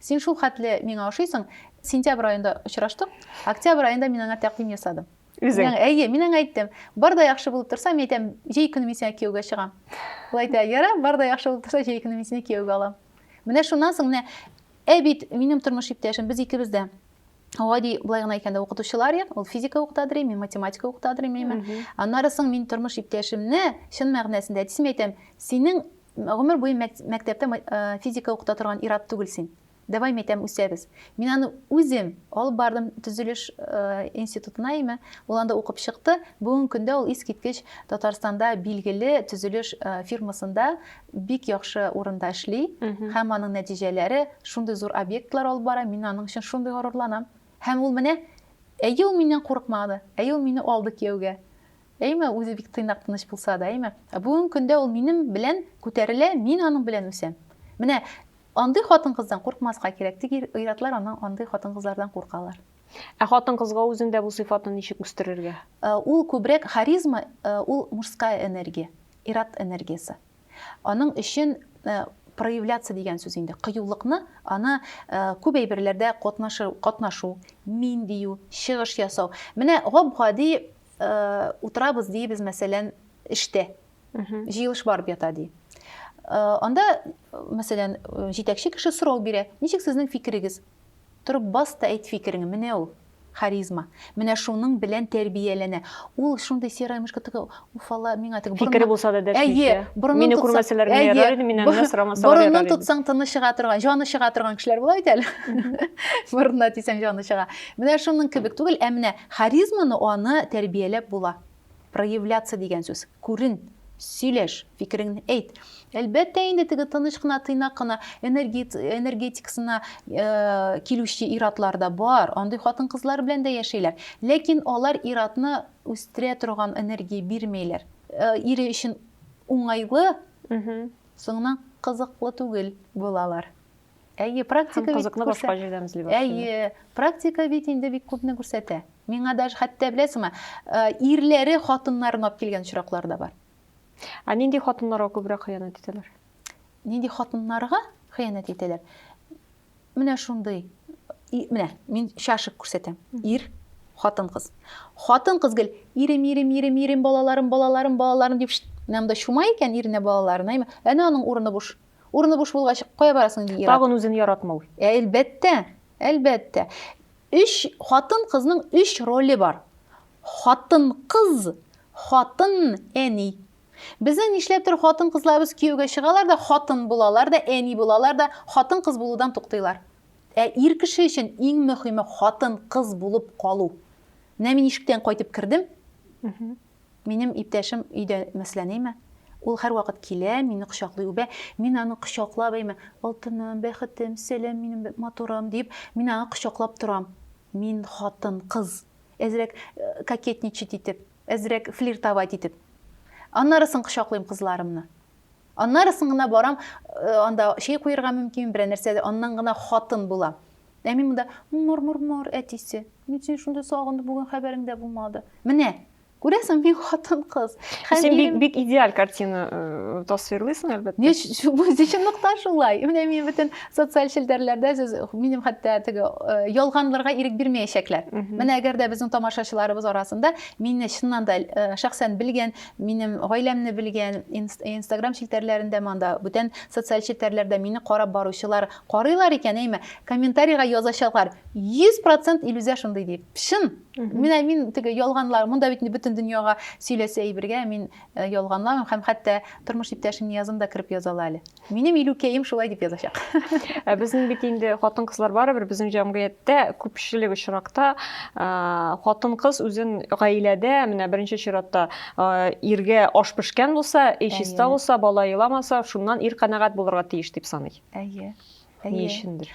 Син шул хәтле миңа ошыйсың, сентябрь аенда очраштык, октябрь аенда мин аңа тәкъдим ясадым. Үзең? Мин, әйе, мин аңа әйттем. Бар да яхшы булып торса, мин әйтәм, җәй көне мин сиңа кияүгә чыгам. Ул әйтә, яра, бар да яхшы булып торса, җәй көне мин сине кияүгә алам. Менә шуннан соң менә ә бит минем тормыш иптәшем, без икебез дә Гади былай гына әйткәндә укытучылар ек, ул физика укытадыр, мин математика укытадыр, мин. Аннары соң мин тормыш иптәшемне чын мәгънәсендә әтисемә әйтәм, синең Гомер буе мәктәптә физика укыта торган ирап түгел син. Давай мәйтәм үсәбез. Мин аны үзем алып бардым төзелеш институтына име. Ул анда укып чыкты. Бүгенге көндә ул искиткеч Татарстанда билгеле төзелеш фирмасында бик яхшы урында эшли. Һәм аның нәтиҗәләре шундый зур объектлар алып бара. Мин аның өчен шундый горурланам. Һәм ул менә әйе ул миннән курыкмады. Әйе ул мине алды кияүгә. Әйме, үзе бик тыйнак, тыныч булса да, әйме. Ә бүгенге көндә ул минем белән күтәрелә, мин аның белән үсәм. Менә андый хатын-кыздан куркмаска кирәк, тик ир-атлар аннан андый хатын-кызлардан куркалар. Ә хатын-кызга үзендә бу сыйфатны ничек үстерергә? Э, ул күбрәк харизма, э, ул мужская энергия, ират энергиясе. Аның өчен э, проявляться дигән сүз инде. Кыюлыкны аны күп әйберләрдә катнашу, катнашу, мин дию, чыгыш ясау. Менә гап-гади Э, утырабыз дейбез мәсәлән эштә җыелыш барып ята ди э, анда мәсәлән э, җитәкче кеше сорау бирә ничек сезнең фикерегез торып бас та әйт фикереңне менә ул харизма менә шуның белән тәрбияләнә ул шундый серая мышка теге уфала миңа теге фикере булса да дәшмичә мине күрмәсәләр генә ярар иде миннән генә сорамасалар ярар борынын тотсаң тыны чыга торган җаны чыга торган кешеләр була бит әле борынына тисәң җаны чыга менә шуның кебек түгел ә менә Харизманы аны тәрбияләп була. Проявляться дигән сүз, күрен, сөйләш, фикереңне әйт. Әлбәттә инде теге тыныч кына, тыйнак кына энергетикасына килүче иратлар да бар. Андый хатын-кызлар белән дә яшәйләр. Ләкин алар иратны үстерә торган энергия бирмәйләр. Ире өчен уңайлы, соңыннан кызыклы түгел булалар. Әйе, практика бит кызыкны башка җирдән эзли башлый. Әйе, практика бит инде бик күпне күрсәтә. Миңа даже хәтта беләсеңме, э, ирләре хатыннарын алып килгән очраклар да бар. Ә нинди хатыннарга күбрәк хыянәт итәләр? Нинди хатыннарга хыянәт итәләр? Менә шундый. Менә мин чашык күрсәтәм. Ир, хатын кыз. Хатын кыз гел ирем, ирем, ирем, ирем, балаларым, балаларым, балаларым дип менә монда чума икән иренә балаларына. Әнә аның урыны буш. Урыны буш булгач, кая барасың ди ир-ат? Тагын үзен яратмау. Әлбәттә, әлбәттә. Өч, хатын-кызның өч роле бар. Хатын-кыз, хатын, әни. Безнең нишләптер хатын-кызларыбыз кияүгә чыгалар да, хатын булалар да, әни булалар да, хатын-кыз булудан туктыйлар. Ә ир кеше өчен иң мөхиме хатын-кыз булып калу. Менә мин ишектән кайтып кердем. Минем иптәшем өйдә мәсьләнеме? Ул һәрвакыт килә, мине кочаклый, үбә. Мин аны кочаклап, әйме, алтыным, бәхетем, сәлам, минем матурым, диеп, мин аны кочаклап торам. Мин хатын, кыз. Әзрәк э, кокетничать итеп, әзрәк флиртовать итеп. Аннары соң кочаклыйм кызларымны. Аннарысын гына барам, анда чәй куерга мөмкин, берәр нәрсә, аннан гына хатын була. Ә мин монда мор-мор-мор әтисе. Мин сине шундый сагынды, бүген хәбәрең дә булмады. Менә Күрәсең, мин хатын-кыз. Син бик, бик идеаль картина э, тасвирлыйсың, әлбәттә. Не, бу чынлыкта шулай. Менә мин бөтен социаль челтәрләрдә сез минем хәтта теге э, ялганларга ирек бирмәячәкләр. Менә әгәр дә безнең тамашачыларыбыз арасында мине чыннан да э, шәхсән белгән Минем гаиләмне белгән, инстаграм челтәрләрендә монда, бүтән социаль челтәрләрдә мине карап баручылар карыйлар икән, әйме, комментарийга язачаклар, 100% Илүзә шундый дип. Чын! Менә мин теге ялганлар, монда бит бөтен дөньяга сөйләсә әйбергә, мин э, ялганламыйм һәм хәтта тормыш иптәшемне язым да кереп язалар әле. Минем илүкәем шулай дип язачак. Ә безнең бит инде хатын-кызлар барыбер безнең җәмгыятьтә күпчелек очракта хатын-кыз үзен гаиләдә менә беренче чиратта иргә аш пешкән булса, өй чиста булса, бала еламаса, шуннан ир канәгать булырга тиеш дип саный. Әйе. Ни өчендер?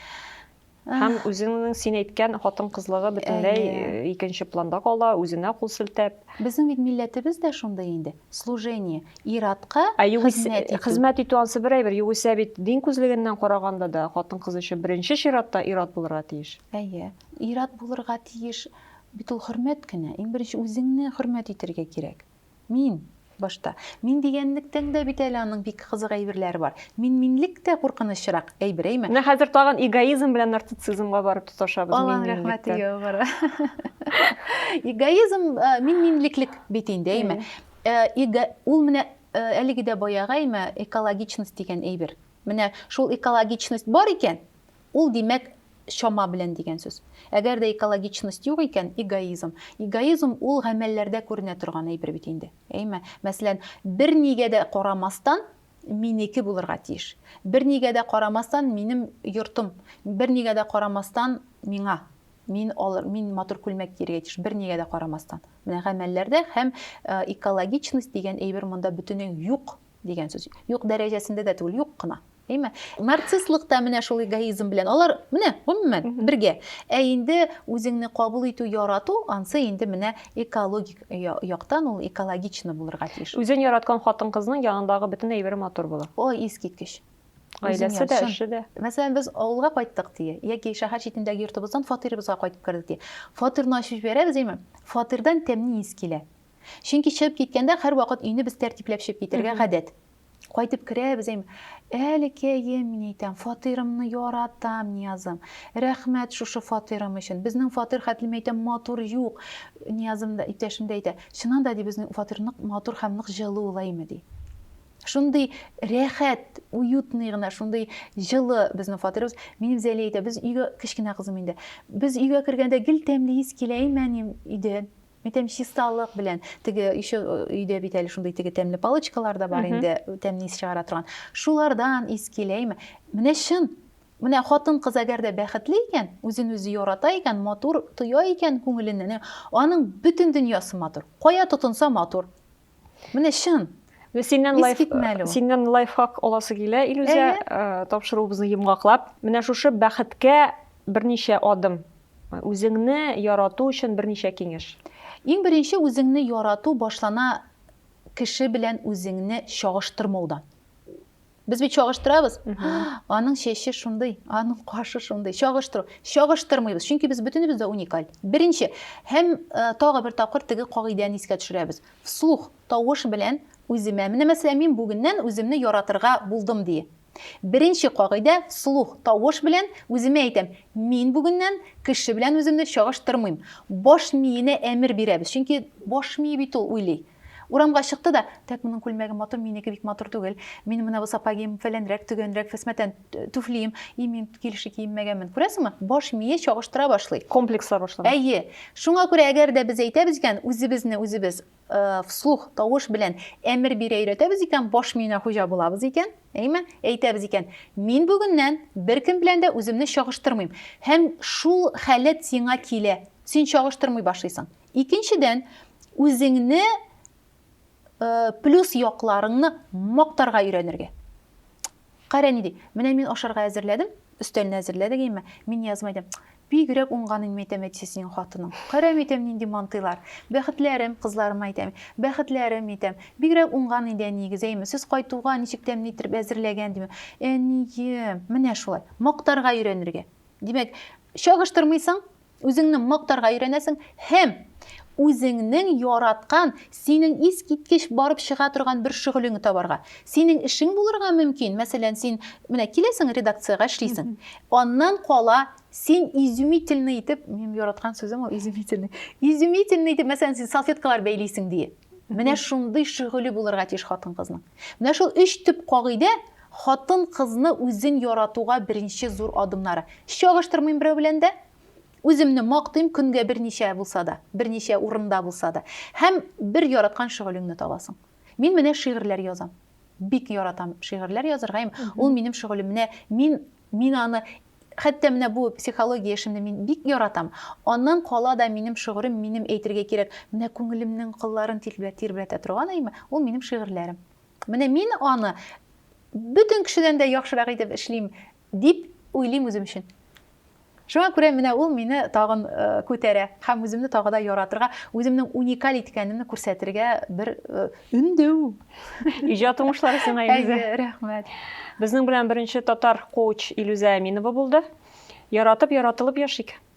Һәм үзеңнең син әйткән хатын кызлыгы бөтенләй икенче планда кала, үзенә кул селтәп. Безнең бит милләтебез дә шундый инде, служение, ир-атка хезмәт итү. Хезмәт итү ансы бер әйбер, югыйсә бит дин күзлегеннән караганда да хатын-кыз өчен беренче чиратта ир-ат булырга тиеш. Әйе, ир-ат булырга тиеш, бит ул хөрмәт кенә, иң беренче үзеңне хөрмәт итәргә кирәк. Мин, башта. Мин дигәнлектән дә бит әле аның бик кызык әйберләре бар. Мин-минлек тә куркынычрак әйбер, әйме? Менә хәзер тагын эгоизм белән нарцицизмга барып тоташабыз. Алланың рәхмәте яуып бара. Эгоизм, мин-минлеклек бит инде, әйме? Эго, ул менә әлеге дә баягы, әйме, экологичность дигән әйбер. Менә шул экологичность бар икән, Ул, димәк, чама белән дигән сүз. Әгәр дә экологичность юк икән, эгоизм. Эгоизм ул гамәлләрдә күренә торган әйбер бит инде. Әйме? Мәсәлән, бернигә дә карамастан, минеке булырга тиеш. Бернигә дә карамастан, минем йортым. Бернигә дә карамастан, миңа. Мин алыр, мин матур күлмәк кияргә тиеш. Бернигә дә карамастан. Менә гамәлләрдә һәм экологичность дигән әйбер монда бөтенләй үк юк. дигән сүз. Юк дәрәҗәсендә дә түгел, юк кына. Әйме? Нарцисслык та менә шул эгоизм белән. Алар менә гомумән бергә. Ә инде үзеңне кабул итү, ярату ансы инде менә экологик яктан ул экологично булырга тиеш. Үзен яраткан хатын-кызның янындагы бөтен әйбере матур була. Ой, искиткеч. Гаиләсе дә, эше дә. Мәсәлән, без авылга кайттык дие, яки шәһәр читендәге йортыбыздан фатирыбызга кайтып кердек дие. Фатирны ачып җибәрәбез, әйме? Фатирдан тәмне ис килә. Чөнки чыгып киткәндә һәрвакыт өйне без тәртипләп чыгып китәргә гадәт. Кайтып керәбез, әйм, әлкәем, мин әйтәм, фатирымны яратам, Ниязым. Рәхмәт шушы фатирым өчен. Безнең фатир хәтлем әйтәм матур юк. Ниязым да, иптәшем дә әйтә, чыннан да ди безнең фатир нык матур һәм нык җылы ул әйме ди. Шундый рәхәт, уютный гына, шундый җылы безнең фатирыбыз. Минем Зәли әйтә, без өйгә кечкенә кызым инде. Без өйгә кергәндә гел тәмле ис килә әйме әнием өйдән. Әйтәм, чисталык белән. Теге еще өйдә бит әле шундый теге тәмле палочкалар да бар инде, тәмле ис чыгара торган. Шулардан ис киләме? Менә чын. Менә хатын-кыз әгәр дә бәхетле икән, үзен-үзе ярата икән, матур тоя икән күңеленнән, аның бөтен дөньясы матур. Кая тотынса матур. Менә чын. Менә синнән Ис лайф китмә әле ул. синнән лайфхак аласы килә, Илүзә, Әйе. э, тапшыруыбызны йомгаклап. Менә шушы бәхеткә берничә адым. Үзеңне ярату өчен берничә киңәш. Иң беренче үзеңне ярату башлана кеше белән үзеңне чагыштырмаудан. Без бит чагыштырабыз. Аның чәче шундый, аның кашы шундый. Чагыштыру. Чагыштырмыйбыз, чөнки без бөтенебез дә уникаль. Беренче һәм э, тагы бер тапкыр теге кагыйдәне искә төшерәбез. Вслух, тавыш белән үземә. Менә мәсәлән, мин бүгеннән үземне яратырга булдым ди. Беренче кагыйдә вслух, тавыш белән үземә әйтәм. Мин бүгеннән кеше белән үземне чагыштырмыйм. Баш миенә әмер бирәбез, чөнки баш мие бит ул уйлый. Урамга чыкты да, Тәк моның күлмәге матур, минеке бик матур түгел. Мин менә бу сапагим фәләнрәк, төгәнрәк, фәсмәтән түфлием, и мин килеши киенмәгәнмен. Күрәсеңме, баш мие чагыштыра башлый. Комплекслар башлана. Әйе. Шуңа күрә әгәр дә без әйтәбез икән, үзебезне үзебез вслух, тавыш белән әмер бирә өйрәтәбез икән, баш миенә хуҗа булабыз икән, әйеме, әйтәбез икән, мин бүгеннән беркем белән дә үземне чагыштырмыйм. Һәм шул халәт сиңа килә. Син чагыштырмый башлыйсың. Икенчедән, үзеңне плюс якларыңны мактарга өйрәнергә. Кара ни ди. Менә мин ашарга әзерләдем, өстәлне әзерләдек әйме. Мин язма идем. Бигрәк уңган инде әйтәм әтисе синең хатының. Кара әйтәм нинди мантыйлар. Бәхетләрем кызларыма әйтәм. Бәхетләрем әйтәм. Бигрәк уңган иде әниегез әйме. Сез кайтуга ничек тәмле итеп әзерләгән диме. Әнием, менә шулай. Мактарга өйрәнергә. Димәк, чагыштырмыйсың, Үзеңне мактарга өйрәнәсең һәм үзеңнең яраткан, синең искиткеч барып чыга торган бер шөгылеңне табарга. Синең эшең булырга мөмкин, мәсәлән, син менә киләсең редакциягә эшлисең. Аннан кала син изумительный итеп, минем яраткан сүзем ул изумительный. Изумительный итеп, мәсәлән, син салфеткалар бәйлисең ди. Менә шундый шөгыле булырга тиеш хатын-кызның. Менә шул өч төп кагыйдә Хатын-кызны үзен яратуга беренче зур адымнары. Чагыштырмыйм берәү белән дә. Үземне мактыйм, көнгә берничә булса да, берничә урында булса да. Һәм бер яраткан шөгылеңне табасың. Мин менә шигырьләр язам. Бик яратам шигырьләр язырга һәм ул минем шөгылем. Менә мин, мин аны, хәтта менә бу психология эшемне мин бик яратам. Аннан кала да минем шөгырем, минем әйтергә кирәк, менә күңелемнең кылларын тирбәтә торган әйме, ул минем шигырьләрем. Менә мин аны бөтен кешедән дә яхшырак итеп эшлим, дип уйлыйм үзем өчен. Шуңа күрә менә ул мине тагын э, күтәрә һәм үземне тагы да яратырга, үземнең уникаль икәнемне күрсәтергә бер э, өндәү. Иҗат уңышлары сиңа, Илүзә. Рәхмәт. Безнең белән беренче татар коуч Илүзә Әминова булды. Яратып, яратылып яшик.